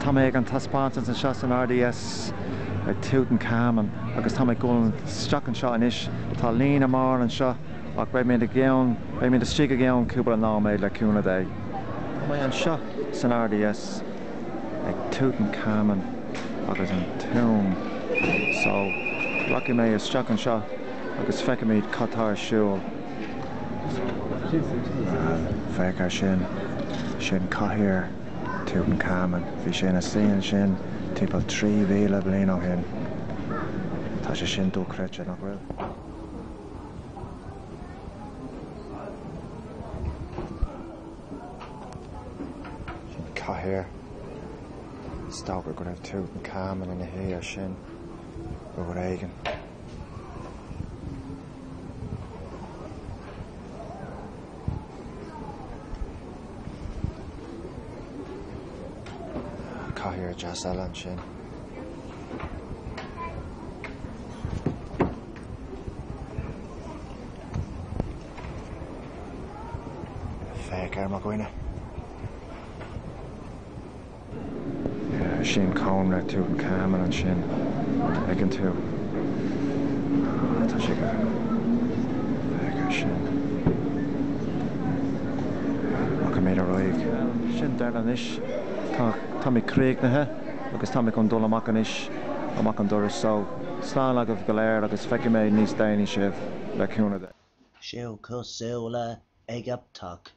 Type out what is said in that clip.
Tá mé ag an taispeántas anseo san RDS ag Tutankhamen agus tá mé ag dul isteach anseo anois. Tá líne mór anseo ach beidh mé ann, beidh mé istigh i gceann cúpla nóiméad le cúnamh Dé. Tá mé anseo san RDS ag Tutankhamen agus an Tomb so rachaidh mé isteach anseo agus feicfimid cad tá ar siúl. Féach ar sin. Sin cathaoir Tutankhamen. Bhí sé ina shuí ansin timpeall 3,000 bliain ó shin. Tá sé sin dochreidte, nach bhfuil? Sin cathaoir. Is dócha go raibh Tutankhamen ina shuí air sin uair éigin. Cathaoir dheas eile ansin. Féach ar mo dhuine. Sin cónra Tutankhamen ansin, an dtuigeann tú? Ah, tá sé go. Féach ar sin. Rachaimid ar aghaidh. Sin deireadh anois. Tá, táimid críochnaithe agus táimid chun dul amach anois, amach an doras. So, slán agaibh go léir agus feicfidh mé níos déanaí sibh, le cúnamh Dé. So, slán agaibh.